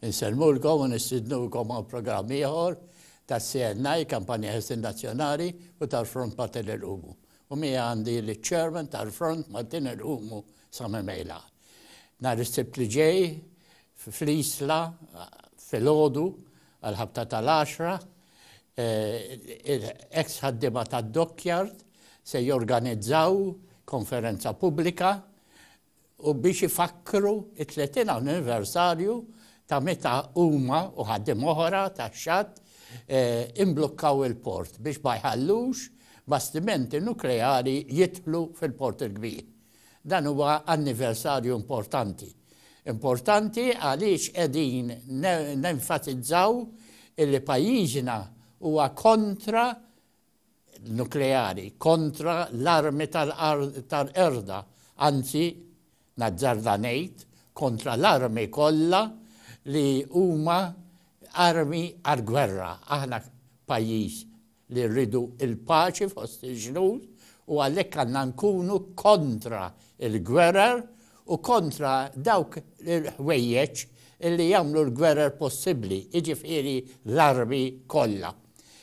Insellmulkom u nistidnukom għal programm ieħor tas-CNI, Kampanja Ħelsien Nazzjonali u tal-Front Maltin Inqumu. U miegħi għandi liċ-Chairman tal-Front Maltin Inqumu Sami Mejla. Nhar is-Sibt li ġej fl-Isla filgħodu għall-ħabta tal-għaxra ex ħaddiema tad-Dockyard se jorganizzaw konferenza pubblika u biex ifakkru t-30 anniversarju ta' meta huma u ħaddiem oħra tax-xatt imblukkaw il-port biex ma jħallux bastimenti nukleari jidħlu fil-Port il-Kbir. Dan huwa anniversarju importanti. Importanti għaliex qegħdin nenfatizzaw illi pajjiżna huwa kontra nukleari kontra l-armi tal-qerda, anzi, nazzarda ngħid, kontra l-armi kollha li huma armi għall-gwerra. Aħna pajjiż li rridu l-paċi fost il-ġnus u għalhekk għandna nkunu kontra l-gwerer u kontra dawk il-ħwejjeġ li jagħmlu l-gwerer possibbli, jiġifieri l-armi kollha.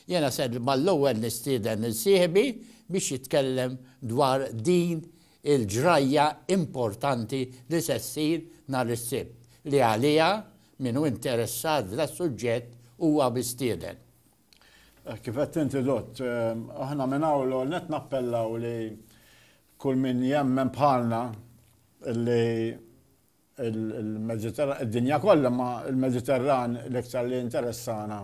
Jiena ser mal-ewwel nistieden lil sieħbi biex jitkellem dwar din il-ġrajja importanti li se ssir nhar is-Sibt, li għaliha min hu interessat f'das-suġġett huwa mistieden. Kif għedt inti Dott, aħna minn hawn l-ewwel nett nappellaw li kull min jemmen bħalna li il-Mediterran, id-dinja kollha, imma il-Mediterran l-iktar li jinteressana,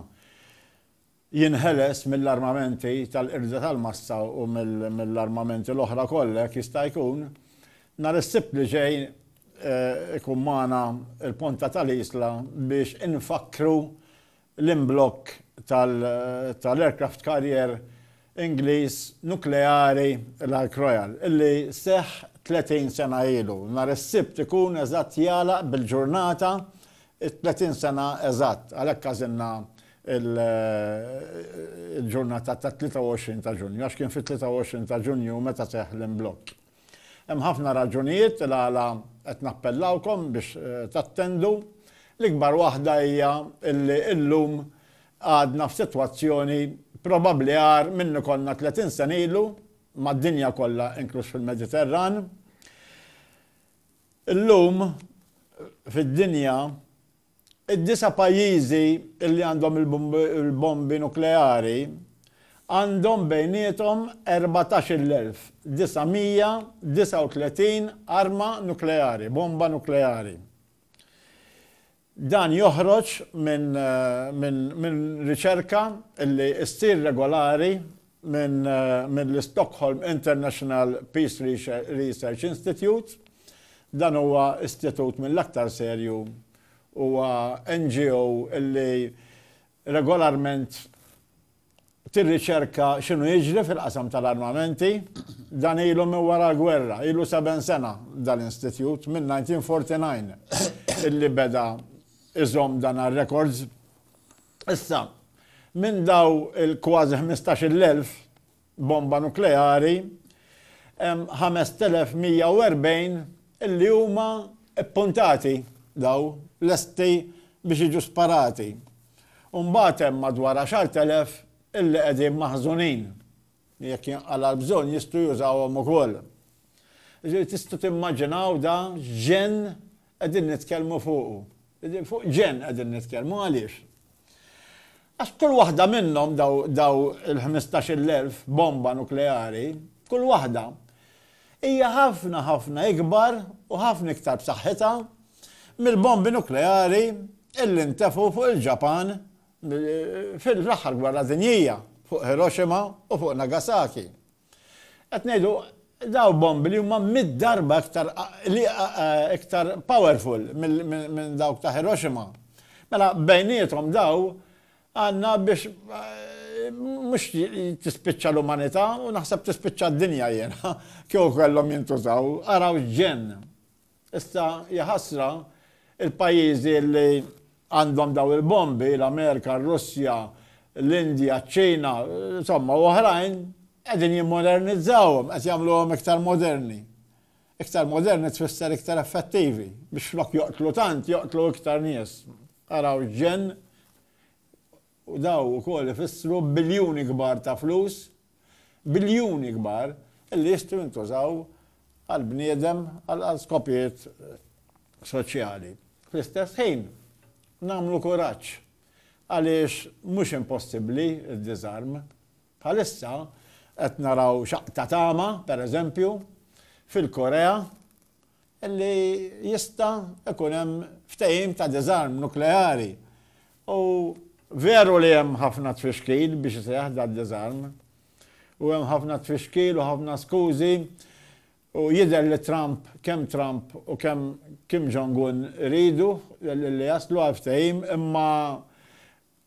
jinħeles mill-armamenti tal-qirda tal-massa u mill-armamenti l-oħra kollha jekk jista' jkun. Nhar is-Sibt li ġej ikun magħna l-Ponta tal-Isla biex infakkru l-imblokk tal-aircraft carrier Ingliż nukleari l-Ark Royal, li seħħ 30 sena ilu. Nhar is-Sibt ikun eżatt jagħlaq bil-ġurnata t-30 sena eżatt, għalhekk għażilna l-ġurnata tat-23 ta' Ġunju, għax kien fit-23 ta' Ġunju meta seħħ l-imblokk. Hemm ħafna raġunijiet il-għala qed nappellawkom biex tattendu. L-ikbar waħda hija illi illum għadna f'sitwazzjoni probabbli agħar minni konna 30 sena ilu mad-dinja kollha inkluż fil-Mediterran. Illum fid-dinja Id-disa' pajjiżi li għandhom il-bombi nukleari għandhom bejniethom 14,939 arma nukleari, bomba nukleari. Dan joħroġ minn riċerka li ssir regolari mill-Stockholm International Peace Research Institute. Dan huwa istitut mill-aktar serju. Huwa NGO li regolarment tirriċerka x'inhu jiġri fil-qasam tal-armamenti. Dan ilu minn wara l-gwerra, ilu seben sena dan l-institut, mill-1949 illi beda jżomm dan għar-rekords. Issa, minn daw il-kważi ħmistax-il elf bomba nukleari, hemm ħamest elef mija u erbgħin li huma ppuntati, daw, lesti biex jiġu sparati. U mbagħad hemm madwar għaxart elef li qegħdin maħżunin, li jekk jinqala' l-bżonn jistgħu jużawhom ukoll. Jiġifieri tistgħu timmaġinaw da x'ġenn qegħdin nitkellmu fuqu. Fuq ġenn qegħdin nitkellmu, għaliex? Għax kull waħda minnhom daw il-ħmistax-il elf bomba nukleari, kull waħda hija ħafna ħafna ikbar u ħafna iktar b'saħħitha mill-bombi nukleari illi ntefu fuq il-Ġapan fil-aħħar gwerra dinjija fuq Hiroshima u fuq Nagasaki. Qed ngħidu, dawn bombi li huma mitt darba iktar iktar powerful minn dawk ta' Hiroshima. Mela bejniethom dawn għandna biex mhux tispiċċa l-umanità u naħseb tispiċċa d-dinja jiena kieku kellhom jintużaw. Araw x'ġenn! Issa hija ħasra, il-pajjiżi li għandhom dawn il-bombi, l-Amerika, r-Russja, l-Indja, ċ-Ċina, insomma, u oħrajn, qegħdin jimmodernizzawhom, qed jagħmluhom iktar moderni. Iktar moderni tfisser iktar effettivi, biex flok joqtlu tant, joqtlu iktar nies. Araw ġenn u dawn ukoll ifissru biljuni kbar ta' flus, biljuni kbar, li jistgħu jintużaw għall-bniedem għal skopijiet soċjali. Fl-istess ħin, nagħmlu kuraġġ għaliex mhux impossibbli d-diżarm. Bħalissa qed naraw xaqq ta' tama, per eżempju, fil-Korea li jista' ikun hemm ftehim ta' diżarm nukleari u veru li hemm ħafna tfixkil biex iseħħ dad-diżarm u hemm ħafna tfixkil u ħafna skużi u jidher li Trump, kemm Trump u kemm Kim Jong-un iridu li jaslu għal ftehim imma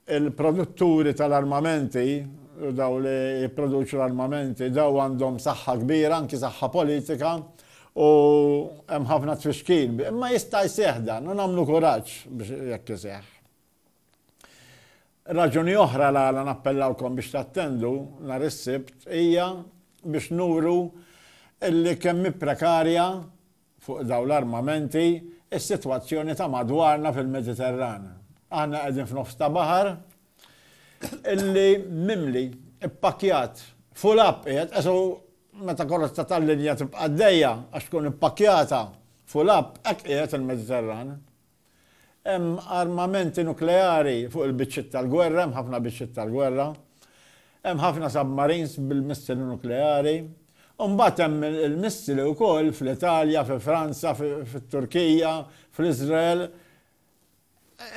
Il-produtturi tal-armamenti u dawk li jipproduċu l-armamenti, dawn għandhom saħħa kbira, anki saħħa politika, u hemm ħafna tfixkil. Imma jista' jseħħ dan u nagħmlu kuraġġ biex jekk iseħħ. Raġuni oħra l-għala nappellawkom biex tattendu nhar is-Sibt hija biex nuru li kemm hi prekarja fuq dawn l-armamenti, is-sitwazzjoni ta' madwarna fil-Mediterran. Aħna qegħdin f'nofs ta' baħar illi mimli, ippakkjat, full up qiegħed, qesu meta karozza tal-linja tibqa' għaddejja għax tkun ippakkjata full up, hekk qiegħed il-Mediterran. Hemm armamenti nukleari fuq il-biċċiet tal-gwerra, hemm ħafna biċċiet tal-gwerra. Hemm ħafna submarines bil-missili nukleari. U mbagħad hemm il-missili wkoll fl-Italja, fi Franza, fit-Turkija, fl-Iżrael.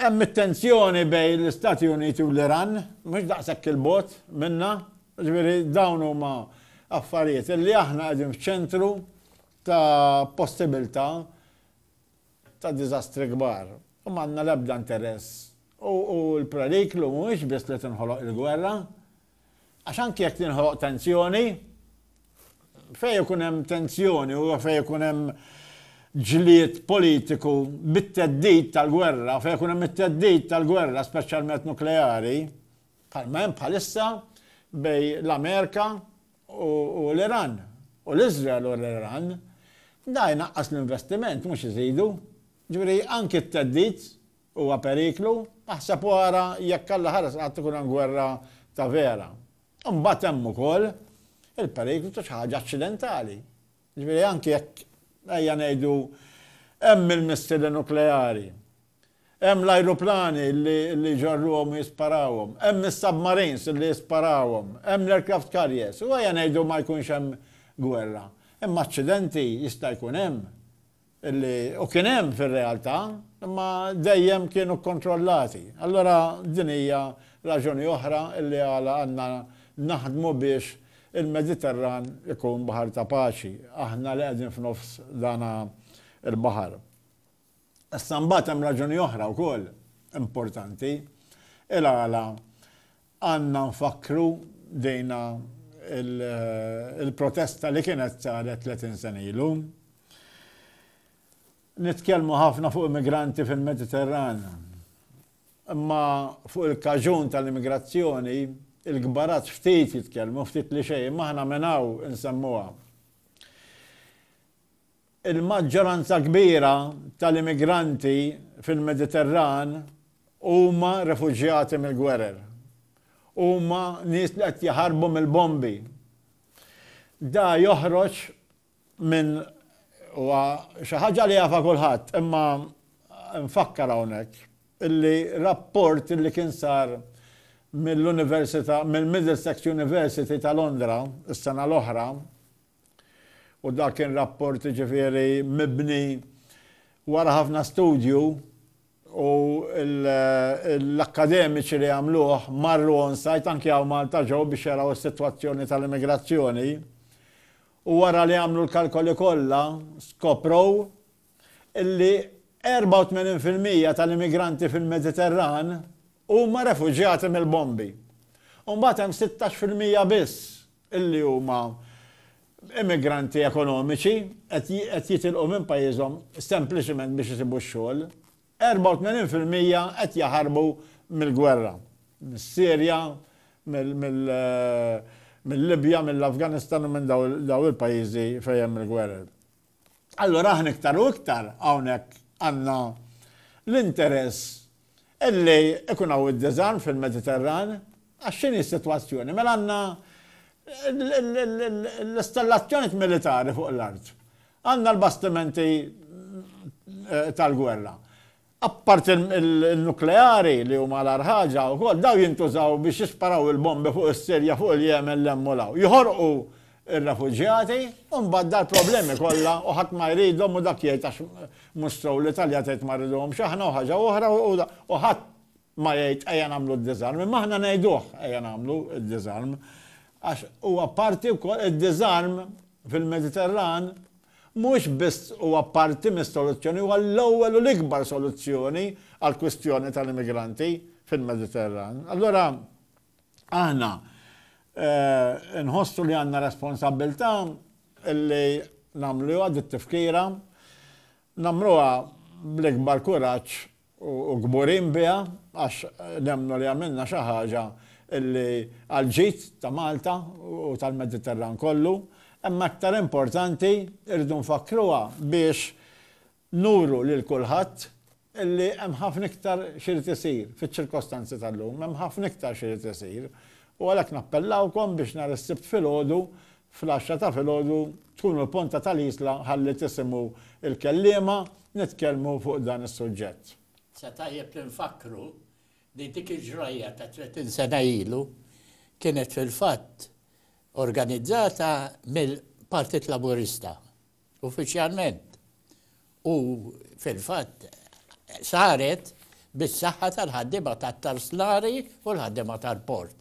Hemm it-tensjoni bejn l-Istati Uniti u l-Iran, mhux daqshekk 'il bogħod minna. Jiġifieri dawn huma affarijiet li aħna qegħdin f'ċentru ta' possibilità ta' diżastri kbar u m'għandna l-ebda interess u l-periklu mhuwiex biss li tinħoloq il-gwerra għax anki jekk tinħoloq tensjoni fejn ikun hemm tensjoni u fejn ikun hemm ġlied politiku bit-theddid tal-gwerra, fejn ikun hemm it-theddid tal-gwerra speċjalment nukleari, bħalma hemm bħalissa bejn l-Amerika u l-Iran, u l-Iżrael u l-Iran, dan jnaqqas l-investiment mhux iżidu. Ġifieri anki t-theddid huwa periklu, aħseb u ara jekk Alla ħares qatt ikun hemm gwerra ta' vera. Imbagħad hemm ukoll il-periklu ta' xi ħaġa aċċidentali. Jiġifieri anki jekk, ejja ngħidu, hemm il-missili nukleari, hemm l-ajruplani li jġorruhom u jisparawhom, hemm is-submarines li jisparawhom, hemm l-aircraft carriers, u ejja ngħidu ma jkunx hemm gwerra, imma aċċidenti jista' jkun hemm. li u kien hemm fir-realtà, imma dejjem kienu kkontrollati. Allura din hija raġuni oħra li għala għandna naħdmu biex il-Mediterran ikun baħar ta' paċi, aħna li qegħdin f'nofs dan il-baħar. Issa mbagħad hemm raġuni oħra wkoll importanti il-għala Għandna nfakkru dina l-protesta li kienet saret 30 sena ilu. Nitkellmu ħafna fuq immigranti fil-Mediterran, imma fuq il-kaġun tal-immigrazzjoni, il-kbarat ftit jitkellmu, ftit li xejn, imma aħna minn hawn insemmuha. Il-maġġoranza kbira tal-immigranti fil-Mediterran huma refuġjati mill-gwerer. Huma nies li qed jaħarbu mill-bombi. Da joħroġ minn huwa xi ħaġa li jafha kulħadd, imma nfakkar hawnhekk illi rapport li kien sar mill-Università mill-Middlesex University ta' Londra s-sena l-oħra, U dak kien rapport jiġifieri mibni wara ħafna studju u l-akkademiċi li għamluh marru on site anki hawn Malta ġew biex jaraw is-sitwazzjoni tal-immigrazzjoni u wara li għamlu l-kalkoli kollha skoprow illi 84 fil-mija tal-immigranti fil-Mediterran huma refuġjati mill-bombi. U mbagħad hemm 16 fil-mija biss li huma immigranti ekonomiċi qed jitilqu minn pajjiżhom sempliċement biex isibu x-xogħol. 84 fil-mija qed jaħarbu mill-gwerra, mis-Sirja, mill-Libja, mill-Afganistan u minn dawn il-pajjiżi fejn hemm il-gwerer. Allura aħna iktar u iktar hawnhekk għandna l-interess illi ikun hawn id-diżarm fil-Mediterran għax x'inhi s-sitwazzjoni? Mela għandna l-istallazzjonijiet militari fuq l-art. Għandna l-bastimenti tal-gwerra. Apparti n-nukleari li huma l-agħar ħaġa wkoll, dawn jintużaw biex jisparaw il-bombi fuq is-Sirja, fuq il-Jemen, 'l hemm u 'l hawn. Joħorqu r-refuġjati u mbagħad dal-problemi kollha u ħadd ma jridhom u dak jgħid għax mhux sew l-Italja tgħid ma rriduhomx aħna u ħaġa oħra u ħadd ma jgħid ejja nagħmlu d-diżarm. Imma aħna ngħiduh ejja nagħmlu d-diżarm għax huwa parti wkoll id-diżarm fil-Mediterran mhux biss huwa parti mis-soluzzjoni, huwa l-ewwel u l-ikbar soluzzjoni għall-kwistjoni tal-immigranti fil-Mediterran. Allura aħna nħossu li għandna responsabbiltà li nagħmluha di t-tifkira, nagħmluha bl-ikbar kuraġġ u kburin biha għax nemmnu li għamilna xi ħaġa li għall-ġid ta' Malta u tal-Mediterran kollu, imma aktar importanti rridu nfakkruha biex nuru lil kulħadd li hemm ħafna iktar x'irid isir fiċ-ċirkostanzi tal-lum, hemm ħafna iktar x'irid isir u għalhekk nappellawkom biex nhar is-Sibt filgħodu Fl-għaxra ta' filgħodu tkun u l-Ponta tal-Isla ħalli tisimgħu l-kelliema nitkellmu fuq dan is-suġġett. Sa tajjeb li nfakkru li dik il-ġrajja ta' tletin sena ilu kienet fil-fatt organizzata mill-Partit Laburista Uffiċjalment, u fil-fatt saret bis-saħħa tal-ħaddiema tat-tarslari u l-ħaddiema tal-port,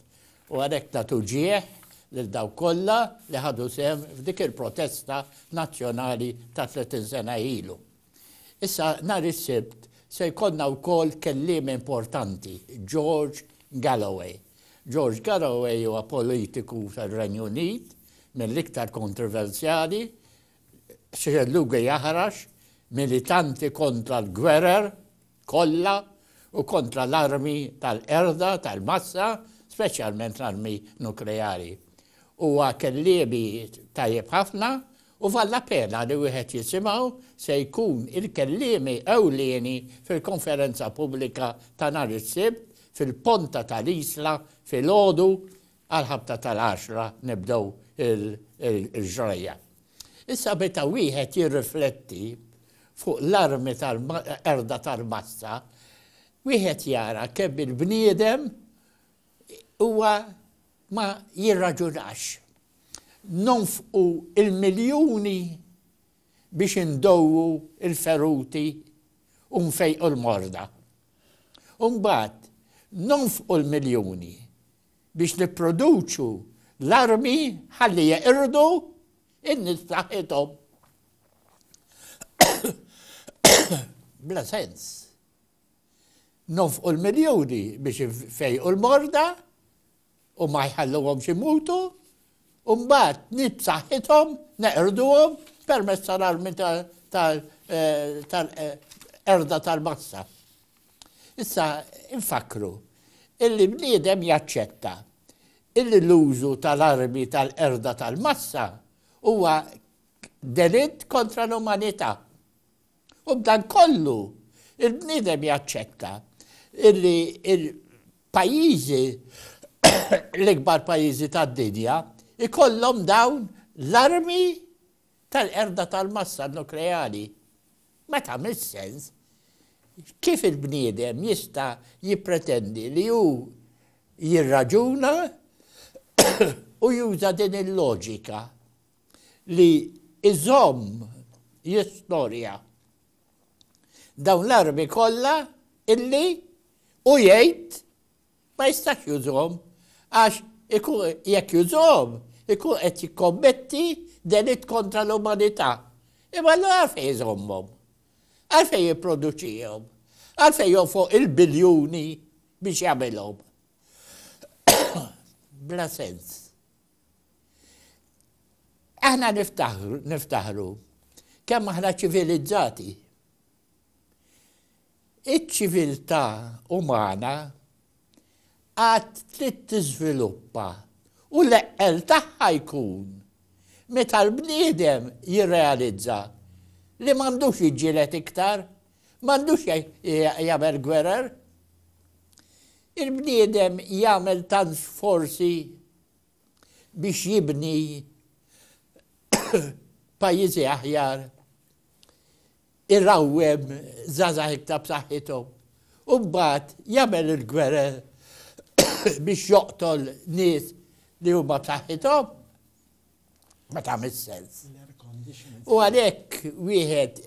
u għalhekk nagħtu ġieħ lil dawk kollha li ħadu sehem f'dik il-protesta nazzjonali ta' 30 sena ilu. Issa nhar is-Sibt se jkollna wkoll kelliem importanti, George Galloway. George Galloway huwa politiku tar-Renju Unit mill-iktar kontroversjali, Sreluge Jahrash, militanti kontra l-gwerer kollha u kontra l-armi tal-qerda tal-massa, speċjalment l-armi nukleari. Huwa kelliemi tajjeb ħafna u valla pena li wieħed jisimgħu se jkun il-kelliemi ewlieni fil-konferenza pubblika ta' nhar is-Sibt fil-Ponta tal-Isla filgħodu Għall-ħabta tal-għaxra nibdew il-ġrajja. Issa meta wieħed jirrifletti fuq l-armi tal-qerda tal-massa, wieħed jara kemm il-bniedem huwa ma jirraġunax. Nonfqu l-miljuni biex indowwu l-feruti u nfejqu l-morda. U mbagħad nonfqu l-miljuni biex nipproduċu l-armi ħalli jeqirdu n-nies b'saħħithom. Bla sens. Nofqu l-miljuni biex fejqu l-morda u ma jħalluhom xi mutu, u mbagħad nit saħħithom neqrduhom permezz tal-armi tal-erda eh, eh, tal-massa. Issa, infakkru illi bniedem jaċċetta illi l-użu tal-armi tal-qerda tal-massa huwa delitt kontra l-umanità. U b'dan kollu, il-bniedem jaċċetta illi il-pajjiżi, l-ikbar pajjiżi tad-dinja, ikollhom dawn l-armi tal-qerda tal-massa nukleari. Ma tagħmilx sens. Kif il-bniedem jista' jippretendi li hu jirraġuna u juża din il-loġika li jżomm jistorja dawn l-armi kollha illi hu jgħid Ma jistax jużhom għax jekk jużhom ikun qed jikkommetti delitt kontra l-umanità. Imma allura għalfejn iżommhom? Għalfejn jipproduċihom? Għalfejn jonfoq il-biljuni biex jagħmilhom? Bla sens. Aħna niftaħru kemm aħna ċivilizzati. Iċ-ċiviltà umana għad trid tiżviluppa u l-eqqel tagħha jkun meta l-bniedem jirrealizza li m'għandux jiġġieled iktar, m'għandux jagħmel gwerer. Il-bniedem jagħmel tant sforzi biex jibni pajjiżi aħjar, irawwem żgħażagħ iktar b'saħħithom u mbagħad jagħmel il-gwerer biex joqtol nies li huma b'saħħithom ma tagħmilx sens. U għalhekk wieħed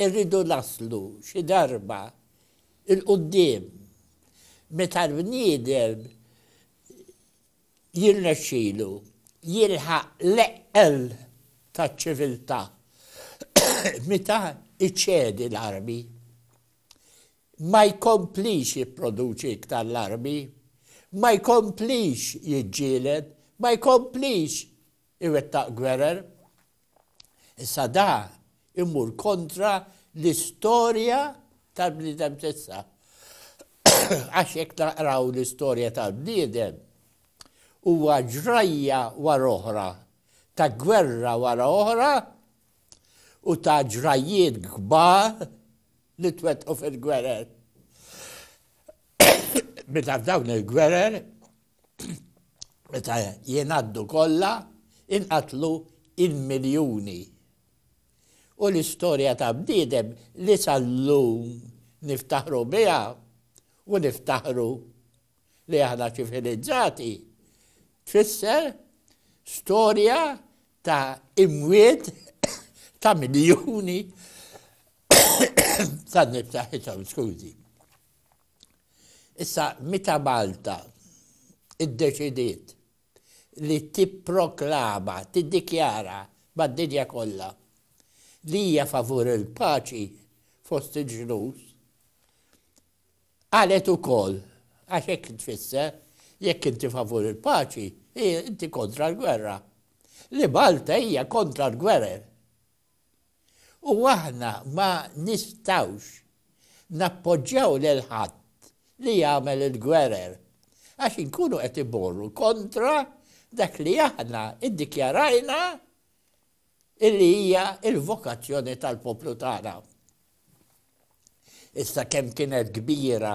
irridu naslu xi darba il-qudiem meta l-bniedem jirnexxilu jilħaq l-eqqel taċ-ċiviltà meta jċedi l-armi. Ma jkomplix jipproduċi iktar l-armi, ma jkomplix jiġġieled, ma jkomplix iwettaq gwerer. Issa dan imur kontra l-istorja tal-bniedem t'issa. Għax jekk naqraw l-istorja tal-bniedem, huwa ġrajja wara oħra ta' gwerra wara oħra u ta' ġrajjiet kbar li twettqu fil-gwerer. Meta f'dawn il-gwerer meta jingħaddu kollha inqatlu il-miljuni. U l-istorja ta' bniedem li sal-lum niftaħru biha u niftaħru li aħna ċivilizzati tfisser storja ta' imwiet ta' miljuni ta' niftaħithom, skużi. Issa meta Malta iddeċidiet li tipproklama, tiddikjara mad-dinja kollha li hija favur il-paċi fost il-ġnus, qalet ukoll, għax hekk tfisser, jekk inti favur il-paċi, inti kontra l-gwerra. Li Malta hija kontra l-gwerer U aħna ma nistgħux nappoġġjaw lil ħadd li jagħmel il-gwerer, għax inkunu qed immorru kontra dak li aħna ddikjarajna li hija l-vokazzjoni tal-poplu tagħna. Issa kemm kienet kbira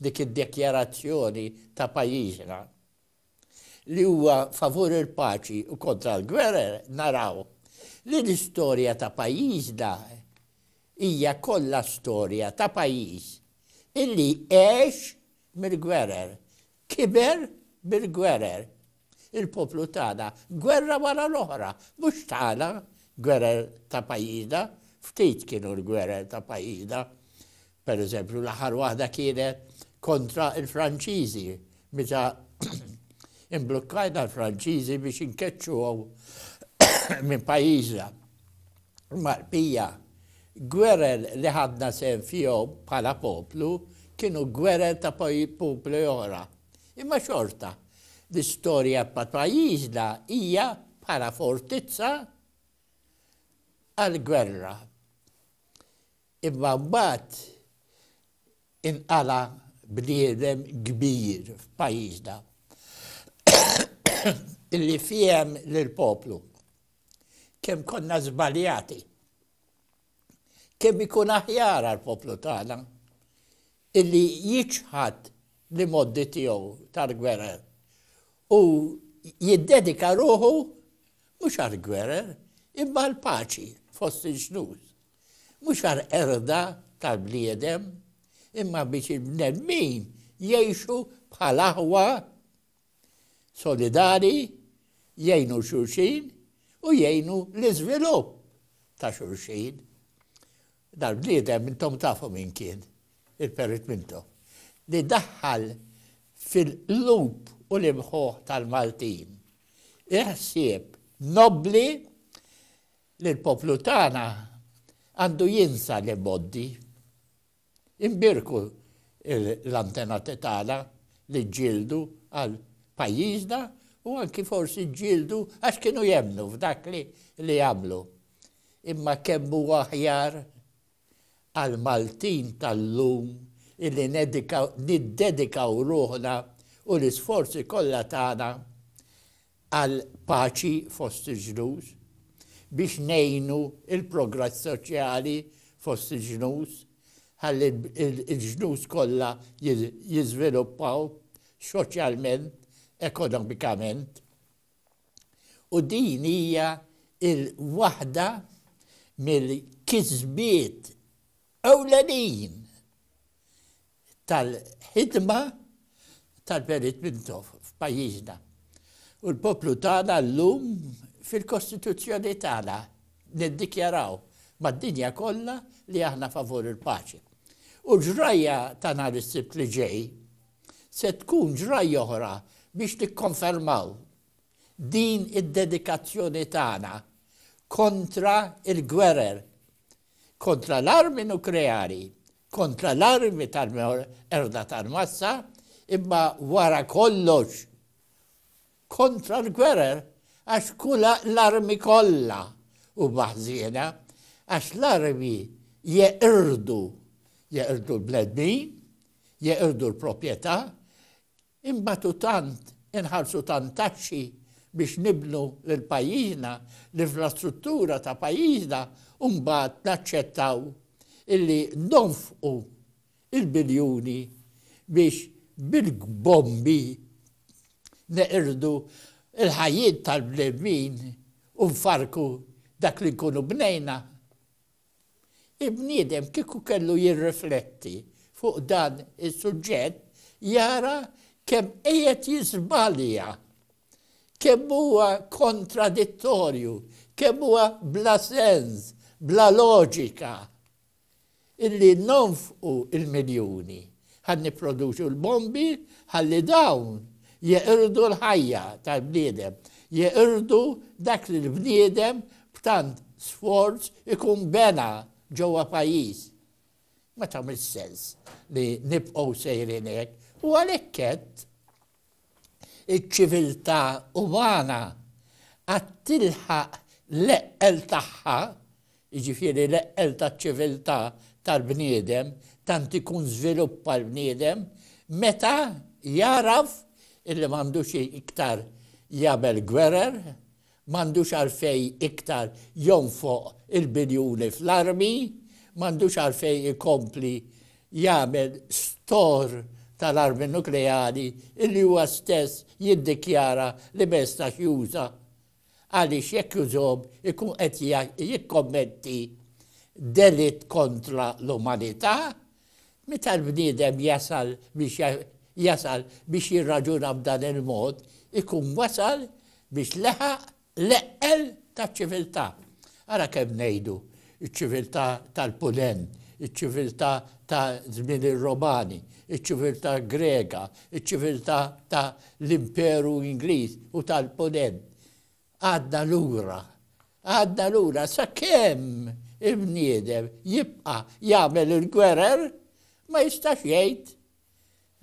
dik id-dekjarazzjoni ta' pajjiżna! li huwa favur il-paċi u kontra l-gwerer, naraw li l-istorja ta' pajjiżna hija kollha storja ta' pajjiż illi għex mill-gwerer, kiber bil-gwerer. Il-poplu tagħna gwerra wara l-oħra, mhux tagħna gwerer ta' pajjiżna, ftit kienu l-gwerer ta' pajjiżna. Per eżempju, l-aħħar waħda kienet kontra l-Franċiżi meta imblukkajna l-Franċiżi biex inkeċċuhom minn pajjiżna. Marpija, gwerer li ħadna sehem fihom bħala poplu kienu gwerer ta' poplu oħra. Imma xorta, l-istorja ta' pajjiżna hija bħala fortizza għal gwerra. Imma mbagħad inqala' bniedem kbir f'pajjiżna li fiehem lill-poplu kemm konna żbaljati, kemm ikun aħjar għall-poplu tagħna illi jiċħad l-imgħoddi tiegħu tal-gwerer u jiddedika ruħu mhux għall-gwerer imma għall-paċi fost il-ġnus. mhux għall-qerda tal-bniedem, imma biex il-bnedmin jgħixu bħal aħwa solidari, jgħinu xulxin u jgħinu l-iżvilupp ta' xulxin. Dal-bniedem intom tafu minn kien, il-perit minnhom, li daħħal fil-qlub u l-imħuħ tal-Maltin. Iħsieb nobli li l-poplu tagħna għandu jinsa l-imgħoddi. Inbierku l-antenati tagħna li ġġieldu għal pajjiżna u anki forsi ġġieldu għax kienu jemmnu f'dak li għamlu. Imma kemm huwa aħjar għall-Maltin tal-lum illi niddedikaw ruħna u l-isforzi kollha tagħna għal paċi fost il-ġnus, biex ngħinu il-progress soċjali fost il-ġnus ħalli l-ġnus kollha jiżviluppaw xoċjalment, ekonomikament. u din hija l-waħda mill-kisbiet ewlenin tal-ħidma tal-Perit Mintoff f'pajjiżna. U l-poplu tagħna llum fil-Kostituzzjoni tagħna niddikjaraw mad-dinja kollha li aħna favur il-paċi. U ġrajja ta' nhar is-Sibt li ġej Se tkun ġrajja oħra biex nikkonfermaw din id-dedikazzjoni tagħna kontra l-gwerer, kontra l-armi nukleari, kontra l-armi tal-qerda tal-massa, imma wara kollox kontra l-gwerer għax kull l-armi kollha huma ħżiena għax l-armi jeqirdu jeqirdu l-bnedmin jeqirdu l-proprjetà inbatu tant inħallsu tant taxxi biex nibnu lil pajjiżna l-infrastruttura ta' pajjiżna u mbagħad naċċettaw illi nonfqu il-biljuni biex bil-bombi neqirdu l-ħajjiet tal-bnedmin u nfarrku dak li nkunu bnejna? Il-bniedem kieku kellu jirrifletti fuq dan is-suġġett jara kemm qiegħed jiżbalja, kemm huwa kontradittorju, kemm huwa bla sens, bla loġika. illi nonfqu l-miljuni ħalli nipproduċu l-bombi ħalli dawn jeqirdu l-ħajja tal-bniedem, jeqirdu dak li l-bniedem b'tant sforz ikun bena ġewwa pajjiż. Ma tagħmilx sens li nibqgħu sejrin hekk u għalhekk għedt, iċ-ċiviltà umana għad tilħaq l-eqqel tagħha, jiġifieri l-eqqel taċ-ċiviltà tal-bniedem, tant ikun żviluppa l-bniedem, meta jagħraf illi m'għandux iktar jagħmel gwerer, m'għandux għalfejn iktar jonfoq il-biljuni fl-armi, m'għandux għalfejn ikompli jagħmel store tal-armi nukleari li huwa stess jiddikjara li ma jistax juża għaliex jekk jużhom ikun qed jikkommetti delitt kontra l-umanità Meta l-bniedem jasal biex jasal biex jirraġuna b'dan il-mod, ikun wasal biex leħaq l-eqqel taċ-ċiviltà. Ara kemm ngħidu, iċ-ċiviltà tal-Punent, iċ-ċiviltà ta' żmien ir-Romani, iċ-ċiviltà Grega, iċ-ċiviltà ta' l-Imperu Ingliż u tal-Punent. Għadda lura. Għadda lura sakemm il-bniedem jibqa' jagħmel il-gwerer ma jistax jgħid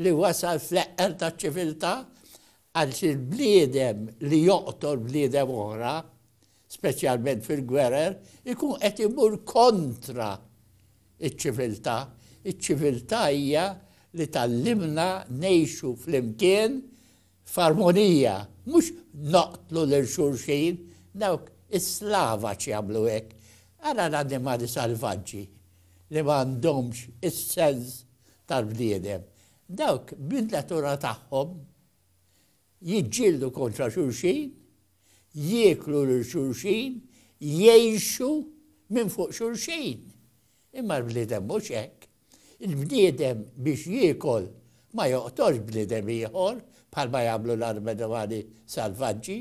li wasal fl-eqqel taċ-ċiviltà għaliex il-bniedem li joqtol bniedem oħra, speċjalment fil-gwerer, ikun qed imur kontra iċ-ċiviltà. Iċ-ċiviltà hija li tgħallimna ngħixu flimkien F'armonija, mhux noqtlu lil xulxin, dawk is-Slavaċ jagħmlu hekk. Ara l-annimali salvaġġi li ma għandhomx is-sens tal-bniedem. Dawk bin-natura tagħhom jiġġieldu kontra xulxin, jieklu lil xulxin, jgħixu minn fuq xulxin. Imma l-bniedem mhux hekk. Il-bniedem biex jiekol ma joqtolx bniedem ieħor bħalma jagħmlu l-armedwani salvaġġi.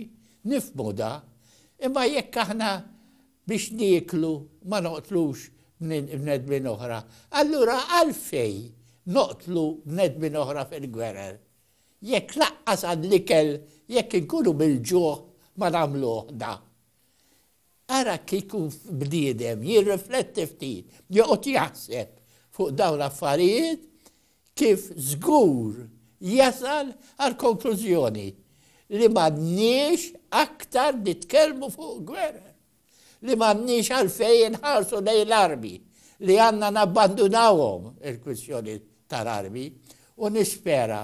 Nifhmu da. Imma jekk aħna biex nieklu ma noqtlux bnedmin oħra, allura għalfejn noqtlu bnedmin oħra fil-gwerer? Jekk laqqas għall-ikel jekk inkunu mill-ġuħ ma nagħmluh da. Ara kieku bniedem jirrifletti ftit, joqgħod jaħseb fuq dawn l-affarijiet, kif żgur jasal għall-konklużjoni li m'għandniex aktar nitkellmu fuq gwerer, li m'għandniex għalfejn inħarsu lejn l-armi, li għandna nabbandunawhom il-kwistjoni tal-armi u nispera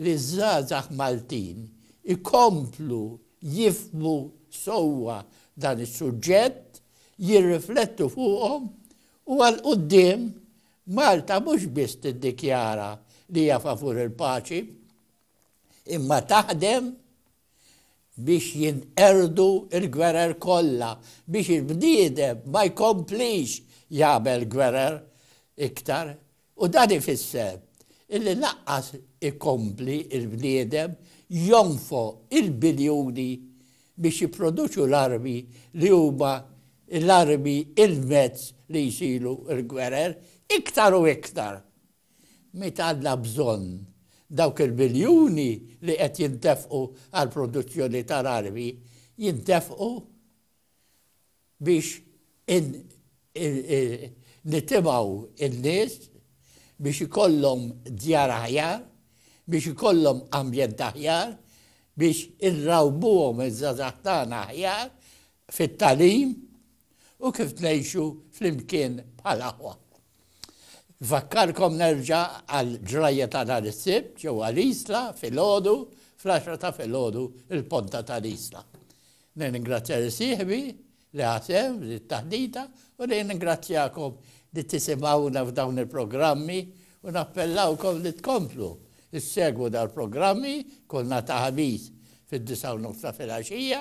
li ż-żgħażagħ Maltin ikomplu jifhmu sewwa dan is-suġġett, jirriflettu fuqhom u għal quddiem Malta mhux biss tiddikjara li hija favur il-paċi imma taħdem biex jinqerdu l-gwerer kollha, biex il-bniedem ma jkomplix jagħmel gwerer iktar. U dan ifisser illi lanqas ikompli l-bniedem jonfoq il-biljuni biex jipproduċu l-armi li huma l-armi il-mezz li jsiru l-gwerer iktar u iktar. Meta għandna bżonn dawk il-biljuni li qed jintefqu għall-produzzjoni tal-armi jintefqu biex nitimgħu n-nies biex ikollhom djar aħjar, biex ikollhom ambjent aħjar, biex inrawwmuhom iż-żgħażagħ tagħna aħjar, fit-tagħlim u kif ngħixu flimkien bħal aħwa. Nfakkarkom nerġa' għall-ġrajja ta' nhar is-Sibt ġewwa l-Isla filgħodu fl-għaxra ta' filgħodu il-Ponta tal-Isla. Nirringrazzja lil sieħbi li ħa sehem f'din it-taħdita u nirringrazzjakom li tisimgħuna f'dawn il-programmi u nappellawkom li tkomplu ssegwu dal-programmi kull nhar ta' Ħamis fid-disgħa u nofs ta' filgħaxija